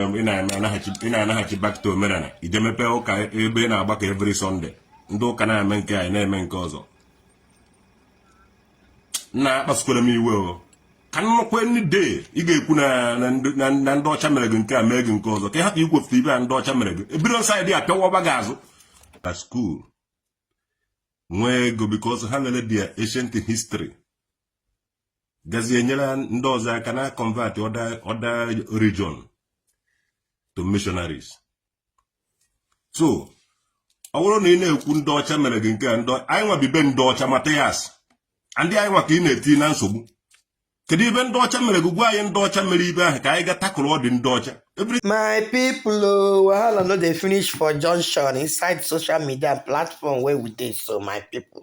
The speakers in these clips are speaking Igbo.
ị na-anaghachi back to omenala ije mepee ụka ebe ị na-agbakọ every Sunday ndị ụka na-eme nke anyị na-eme nke ọzọ na-akpasukwara m iwe o ka nnukwu ndị dee ị ga-ekwu na ndị ọcha mere gị nke a mee gị nke ọzọ ka ị hapụ ikwupụta ibe a ndị ọcha mere gị ebido side a pịawa ọba gị azụ na school nwee ego because ha lere their ancient history gazie nyere ndị ọzọ aka na convert other region to missionaries so ọ bụrụ na ị na-ekwu ndị ọcha mere gị nke a ndị anyị nwa bi be ndị ọcha Matthias ndị anyị nwa ka ị na-eti na nsogbu kedu ibe ndị ọcha mere gị gwa anyị ndị ọcha mere ibe ahụ ka anyị ga takụrụ ọdị ndị ọcha my people oh, wahala no dey finish for junction inside social media platform wey we dey so my people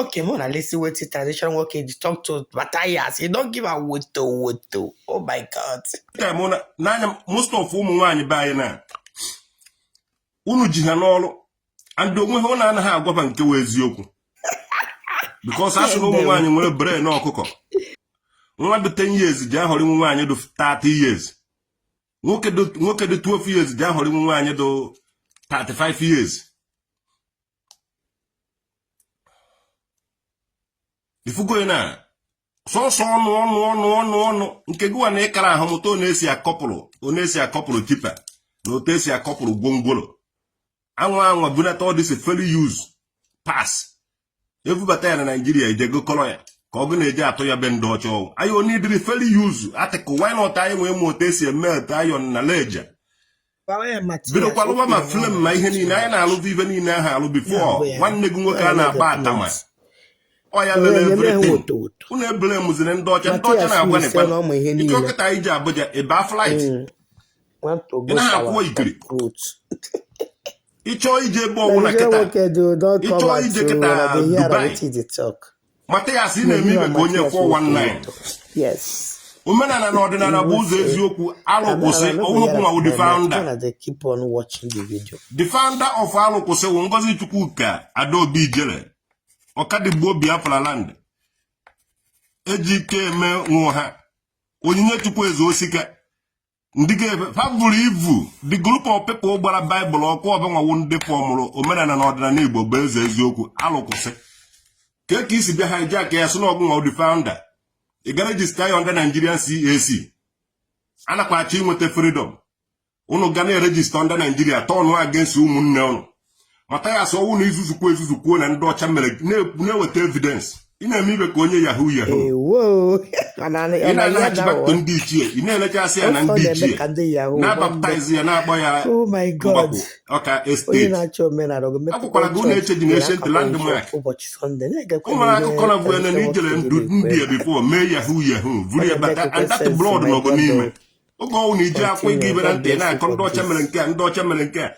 Okay, make una listen what the traditional work dey talk to Matthias. He don give am woto woto. Oh my God. Ka mụ na n'anya most of ụmụ nwaanyị be anyị na unu ji ha n'ọrụ and o nwe ihe unu anaghị agwa ba nke wụ eziokwu because a sị na ụmụ nwaanyị nwere brain ọkụkọ nwa dị 10 years ja-aghọri nwa nwaanyị dị 30 years nwoke dị 12 years ja-aghọri nwa nwaanyị dị 35 years ifugo na sọsọ ọnụ ọnụ ọnụ ọnụ ọnụ nke gụwa na ịkara ahụ mụta otu esi otu esi a-couple tipper na otu esi a-couple gwongworo anwa anwa bunata all these fairly used parts ebubata ya na Nigeria e je gokọrọ ya ka ọ gụ na-eji atụ ya be ndị ọcha ọgwụ anyị ọ needịrị fairly used article why not anyị ewee mụọ otu esi e-melt iron na leja bidokwa lụwa ma film na ihe niile anyị na-alụbụ ibe niile ahụ alụ before nwanne gị nwoke a na-akpọ Atama ọ ya lere everything unu e-blameziri ndị ọcha ndị ọcha na-agwa nekwa ike o kịta anyị ji abụja ebe a flight mm. ị naghị akwụwa ekiri ịchọọ ije ebe ọbụla kịta ịchọọ ije kịta Dubai Matthias ị na-eme ibe ka onye 419 omenala na ọdịnala bụ ụzọ eziokwu alụ kwụsị ọ wụ gụnwa wụ the founder the founder of alụ kwụsị wụ Ngozi Chukwuka Adaobi Ijele Ọkadigbo Biafra land Ejikeme Nwọha Onyinyechukwu Ezeosika ndị ga-ebe ha buru ibu the group of people gbara Bible ọkụ ọ banwa wụ ndị fọmụrụ omenala na ọdịnala Igbo bụ eze eziokwu alụ kwụsị kee ka i si bịa hijack ya sị na ọ gụnwa wụ the founder ị gara register ya under Nigerian CAC a nakwa achọ inweta freedom unu ga na-eregister under Nigeria turn against ụmụnne unu Mathias ọwụ na i zuzukwu ezuzukwuo na ndị ọcha mere na-eweta evidence ị na-eme ibe ka onye yahoo yahoo ị na-anaghachibata ndị ichie ị na-elechasị ya na ndị ichie na-abaptaizi ya na-akpọ ya oh mgbakwu ọka esteti akwụkwara gị ụlọ eche dị n'ancient landmark ụmụrụ akụkọ na bụ ene na i jere na India before mee yahoo yahoo vuru ya bata and that blood nọ gị n'ime oge ọwụ na iji akwụ ịga ibe na ntị na-akọ ndị ọcha mere nke a ndị ọcha mere nke a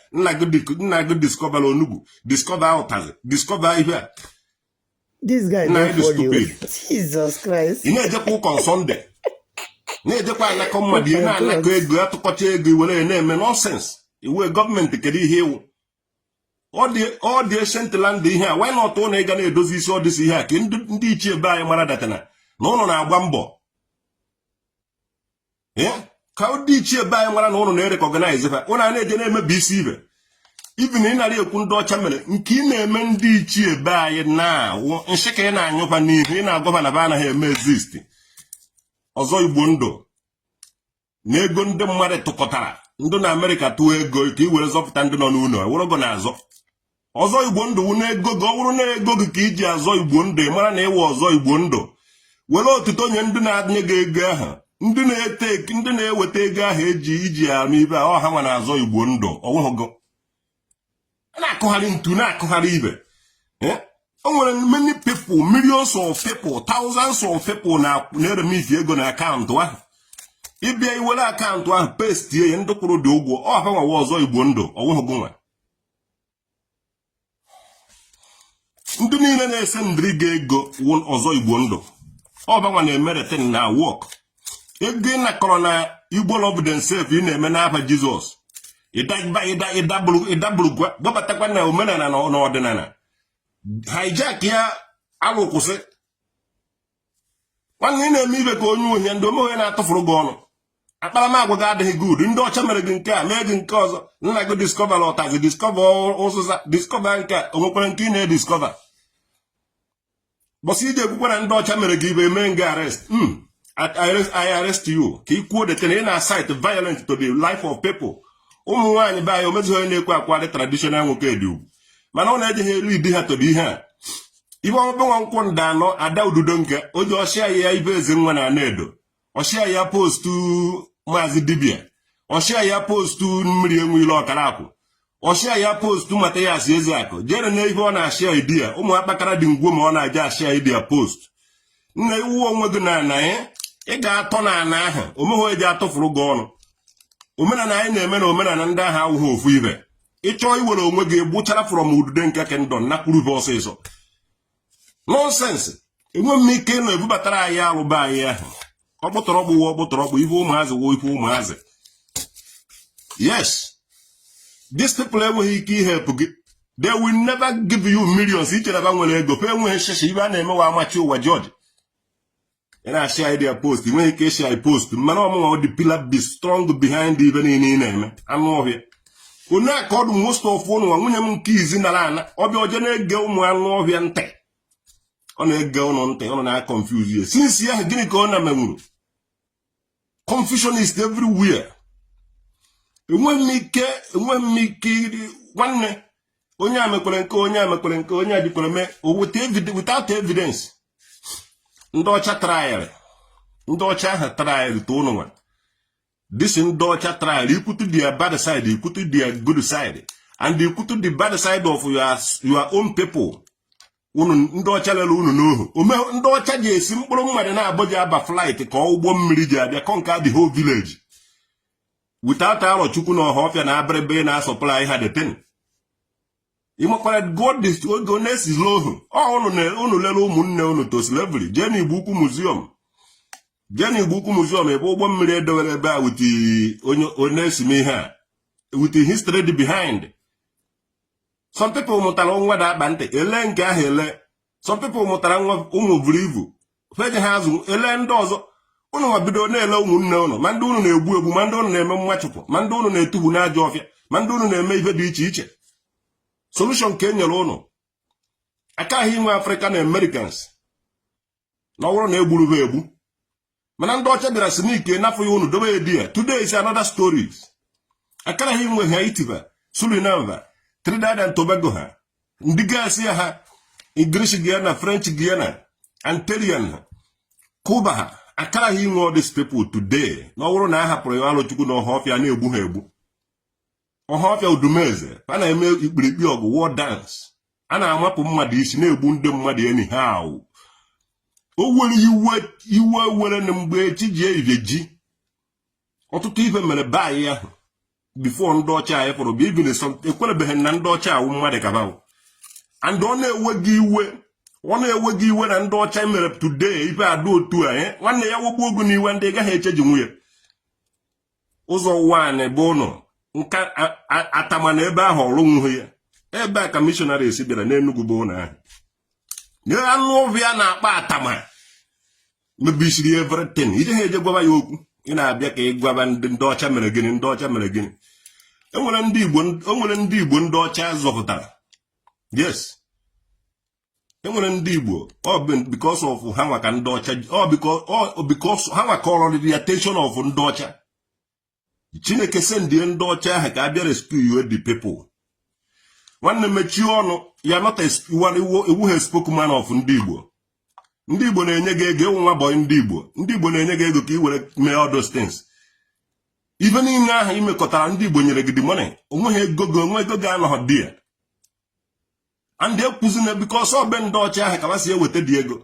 nna gị diskọvara onugbu diskọva ụtazị diskọva ihe a This guy na dị stupid Jesus Christ ị na-ejekwa ụka sọnde na-ejekwa anakọ mmadụ ihe na-anakọ ego atụkọcha ego i were ya na-eme nọsens ị wụ gọọmenti kedu ihe ị wụ ọ dị ancient land ihe a wanyị na ọtụ na ịga na-edozi isi ọdịsi ihe a ka ndị ichie be anyị mara that na ụnụ na-agba mbọ ka ndị ichie be anyị mara na ụnụ na-erekọganaize fa ụnụ a na-eje na-emebi isi ibe ibi na ị nara ekwu ndị ọcha mere nke ị na-eme ndị ichie be anyị na nshị ka ị na-anyụ fa n'ihu ị na-agwa fa na fa anaghị eme exist ọzọ igbo ndụ na ego ndị mmadụ tụkọtara ndị na amerịka tụọ ego ka i were zọpụta ndị nọ n'ụlọ ọ wụrụ gị na-azọ ọzọ igbo ndụ wụ n'ego gị ọ bụrụ na ego gị ka e ji azọ igbo ndụ ị mara na ị wụ ọzọ igbo ndụ were otuto nye ndị na-adịnye gị ego ahụ ndị na-ete ndị na-eweta ego ahụ eji i ji eme ibe ahụ ọ ha nwa na-azọ igbo ndụ ọ wụhụ gị na-akụgharị ntu na-akụgharị ibe eh? o nwere many people millions of people thousands of people na-eremiti ego na akaụntụ ahụ ị bịa i were akaụntụ ahụ pestie ya ndị kwụrụ dị ụgwọ ọ ha nwa wụ ọzọ igbo ndụ ọ wụhụ gị nwa ndị niile na-esendịrị gị ego wụ ọzọ igbo ndụ ọ fa nwa na-emere thing na-awọk ego ị nakọrọ na igbo love themselves ị na-eme n'afa jizọs ịdaburugwa gbabatakwa na omenala na ọdịnala hijack ya alụ kwụsị nwanne ị na-eme ibe ka onye ọhịa ndị omeghe na-atụfuru gị ọnụ akparamagwa gị adịghị good ndị ọcha mere gị nke a mee gị nke ọzọ nna gị discover ụtazị discover ụzịza discover nke a onwekwara nke ị na-ediscover bọsị i ji ekwukwa na ndị ọcha mere gị ibe mee nga arrest hmm, I arrest you ka ị kwuo that na ị na-incite violent to the life of people ụmụ nwaanyị be anyị onwezighị onye na-ekwe akwa dị traditional nwoke dị ugwu mana ọ na-ejeghị elu idi ha tobe ihe a ibe ọmụbe nwa nkwụ nda anọ ada ududo nke oji ọ share ya ibe eze nwa na anaedo ọ share ya postu maazị dibia ọ share ya postu mmiri enwe ilo ọkara akwụ ọ share ya postu Mathias Ezeakụ jere na ibe ọ na-ashare idi ya ụmụ akpakara dị ngwo ma ọ na-eje ashare idi ya postu nna iwu onwe gị na ana ya ị ga-atọ na ana ahụ omehụ eji atụfuru gị ọnụ omenala anyị na-eme na omenala ndị ahụ awụghị ofu ibe ịchọọ iwere onwe gị egbuchara from udude nke kendọ nakwuru be ọsịsọ nonsense enweghị m ike ịnọ ebubatara anyị alụ be anyị ahụ ọkpụtọrọkpụ wụ ọkpụtọrọkpụ ife ụmụazị wụ ife ụmụazị yes these people enweghị ike ihelp gị they will never give you millions i chere ba nwere ego ba enweghị shishi ibe a na-emewa amachi ụwa George ị na-eshare idea post nweghị ike ishare post mana ọ mụnwa wụ the pillar be strong behind ife niile ị na-eme anụ ọhịa onye a ka ọ dị most of ụnụ nwa nwunye m nke izi nara ana ọ bịa o je na-ege ụmụ anụ ọhịa ntị ọ na-ege ụnụ ntị ọ na-confuse ya since ya gịnị ka ọ na-emenwuru confusion is everywhere enweghị m ike enweghị m ike iri nwanne onye a mekwere nke onye a mekwere nke onye a dịkwara mee without evidence ndị ọcha tryara ndị ọcha ahụ tryara to ụnụ nwa this ndị ọcha tryara ikwutu their bad side ikwutu their good side and ikwutu the bad side of your, your own people unu ndị ọcha lere unu n'ohu ome ndị ọcha ji esi mkpụrụ mmadụ naabọ ji aba flight ka ụgbọ mmiri ji abịa conquer the whole village without arọchukwu na ọhafịa na abịrịba na-asupply ha the thing ị makwara god oge ọ na-esizi ohu unu lere ụmụnne unu to slavery jee na igbo ukwu museum jee na igbo ukwu museum ebe ụgbọ mmiri e dowere ebe a with onye na-esime ihe a with history dị behind some people mụtara nwa da akpa ntị ele nke ahụ ele some people mụtara nwa ụmụ buru ibu feje ha azụ ele ndị ọzọ ụnụ nwa bido na-ele ụmụnne ụnụ ma ndị ụnụ na-egbu egbu ma ndị ụnụ na-eme mmachụpụ ma ndị ụnụ na-etufu n'ajọ ọfịa ma ndị ụnụ na-eme ihe dị iche iche solution ka e nyere ụnụ akaghị inwe african americans na ọ wụrụ na e gburu ha egbu mana ndị ọcha bịara si n'ike nafụ ya unu dobe edi ya today is another stories akaraghị inwe haiti ba suriname trinidad and tobago ha ndị gaasị ya ha English Guyana French Guyana Antillean ha Cuba ha akaraghị inwe all these people today na ọ wụrụ na a hapụrụ ya arọchukwu na ọhafịa na-egbu ha egbu ọhafịa udumeze a na-eme ikpirikpi ọgụ war dance a na-amapụ mmadụ isi na-egbu ndị mmadụ anyhow o were iwe iwe were na mgbe chi ji ehihie ji ọtụtụ ife mere be anyị ahụ before ndị ọcha anyị fọrọ bụ even ekwerebeghị na ndị ọcha awụ mmadụ ka ba wụ and ọ na-ewe gị iwe ọ na-ewe gị iwe na ndị ọcha mere today ife a dụ otu a eh? nwanne ya wogbuo gị n'iwe ndị ị gaghị eche ji nwunye ụzọ ụwa anyị bụ ụnụ nka atama na ebe ahụ ọlụnwughị ya ebe a ka missionaries bịara n'enugwu bụ ụlọ ahụ nye anụ ọhịa na-akpọ atama mebisiri everything ị jeghị eje gwaba ya okwu ị na-abịa ka ị gwaba ndị ọcha mere gịnị ndị ọcha mere gịnị enwere ndị igbo ndị ọcha zọpụtara yes enwere ndị igbo because of ha nwa ka ndị ọcha because ha nwa ka ọrọrị the attention of ndị ọcha chineke sendie ndị ọcha ahụ ka a bịa rescue the people nwanne mechie ọnụ you're not ị wụghị spokesman of ndị igbo ndị igbo na-enye gị ego ị wụ nwa boy ndị igbo ndị igbo na-enye gị ego ka ị were mee all those things ife niile ahụ i mekọtara ndị igbo nyere gị the money o nweghị ego gị o nwe ego gị anọghị there and ekwuzi na because ọ be ndị ọcha ahụ ka ha si eweta the ego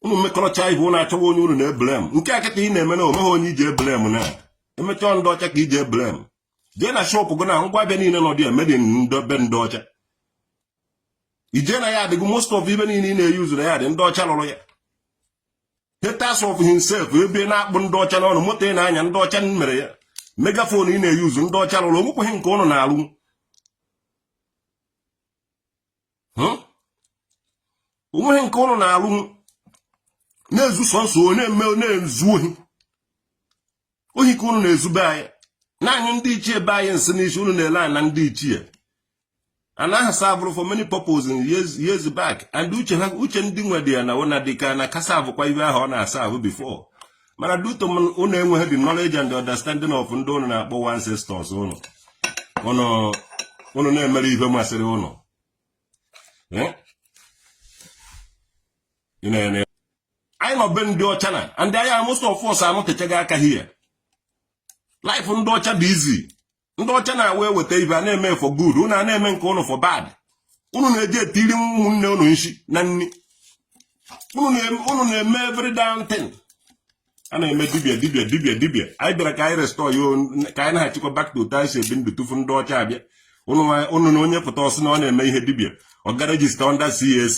unu mekọrọcha ibe ụnụ achọwa onye unu na-eblem nke a kịta ị na-eme na o nweghị onye iji eblem na emechaa ndị ọcha ka iji eblem jee na shop gị na ngwa ahịa niile nọ there made in be ndị ọcha i je na yard gị most of ibe niile ị na-eyuzu na yard ndị ọcha lụrụ ya haters of himself ebe na-akpụ ndị ọcha n'ọnụ moto ị na-anya ndị ọcha mere ya megaphone ị na-eyuzu ndị ọcha lụrụ o nwekweghị nke ụnụ na-alụ hmm? o nweghị nke ụnụ na-alụ na-ezu sọnsọ onye eme na-ezu ohi ohi ka ụnụ na-ezu be anyị na-anyụ ndị ichie be anyị nsị n'isi ụnụ na-ele anya na ndị ichie and ha savụrụ for many purposes in years, years back and uche ha uche ndị nwedị ya na ụna dịka na ka savụkwa ibe ahụ ọ na-asavụ before mana due to ụnụ enweghị the knowledge and the understanding of ndị ụnụ na-akpọ ancestors ụnụ ụnụ na-emere ihe masịrị ụnụ eh? anyị nọ be ndị ọcha na and anyị most of us anọtechaghị aka here life ndị ọcha dị easy ndị ọcha nwa eweta ibe a na-eme for good unu a na-eme nke ụnụ for bad unu na-eji etiri ụmụnne ụnụ nshi na nri unu na-eme every damn thing a na-eme dibia dibia dibia dibia anyị bịara ka anyị restore ya ka anyị na-achịkwa back to otu anyị si ebi ndụ tufu ndị ọcha abịa ụnụ na onye pụta ọ sị na ọ na-eme ihe dibia ọ ga register under CAC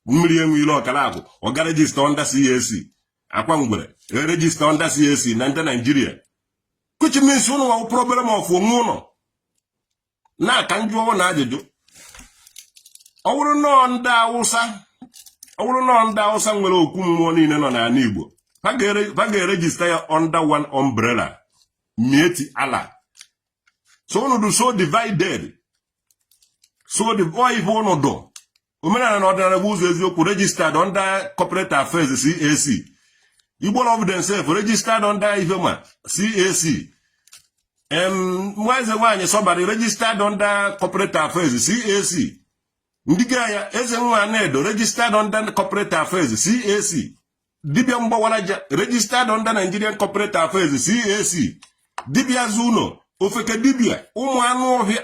mmiri enwe ilo ọkara agwụ ọ ga register under CAC akwa ngwere erejista under CAC na ndị Naijiria which means ụnụ nwa wụ problem of onwe ụnụ na ka m jụọ ụnụ ajụjụ ọ bụrụ na ọọ ndị awụsa ọ bụrụ na ọọ ndị awụsa nwere okwu mmụọ niile nọ n'ala igbo ha ga-erejista ya under one umbrella miyetti allah so ụnụ dị so divided so ọ bụ ife ụnụ dụ omenala na ọdịnala bụ ụzọ eziokwu registered under corporate affairs CAC Igbo love themselves registered under Ifema CAC nwa eze nwaanyị sọbara registered under corporate affairs CAC ndị ga ya eze nwa na-edo registered under corporate affairs CAC dibia mgbawaraja registered under Nigerian corporate affairs CAC dibia zuno ofeke dibia ụmụ anụ ọhịa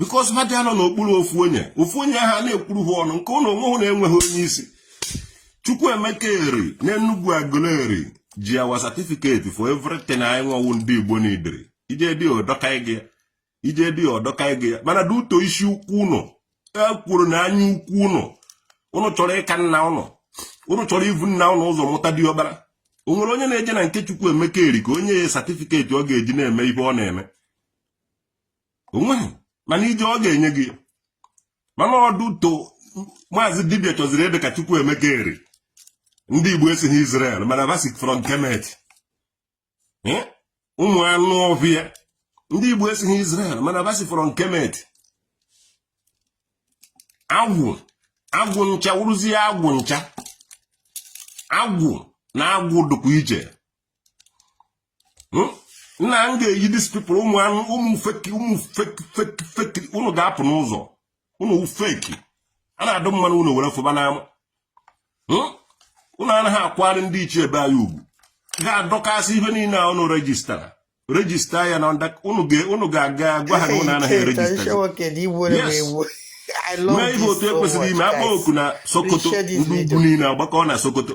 because ha adị anọ n'okpuru ofu onye ofu onye ha na-ekwuru ha ọnụ nke ụnụ onwe hụ na-enweghị onye isi Chukwuemeka Eri n'Enugu Aguleri ji our certificate for everything anyị nwawu ndị Igbo n'idiri ije dị ọdọka gị ije dị ọdọka gị mana due to isi ukwu ụnụ ekworo na anya ukwu ụnụ ụnụ chọrọ ịka nna ụnụ ụnụ chọrọ ivu nna ụnụ ụzọ mụta diọkpara o nwere onye na-eje na nke Chukwuemeka Eri ka o nye ya certificate ọ ga-eji na-eme ihe ọ na-eme o nweghị mana i jee ọ ga-enye gị ya mana ọ due to maazị dibia chọziri ịdị ka Chukwuemeka Eri ndị igbo esighị Israel mana va si from Kemet ụmụ anụ ọhịa ndị igbo esighị Israel mana va si from Kemet agwụ agwụ ncha wụrụzie agwụ ncha agwụ na agwụ dịkwa iche hmm? nna m ga-eyi these people ụmụ anụ ụmụ feki ụmụ feki feki feki unu ga-apụ n'ụzọ unu feki a na-adụ mmanụ unu were fụba n'ama hmm? unu anaghị akwari ndị ichie ebe anyị ugwu ga-adọkasị ihe niile a unu rejistara rejista ya na unu ga-aga gwa ha na unu anaghị erejista mee ihe otu e kwesịrị ime a kpọọ oku na Sokoto ndị ugwu niile agbakọ na Sokoto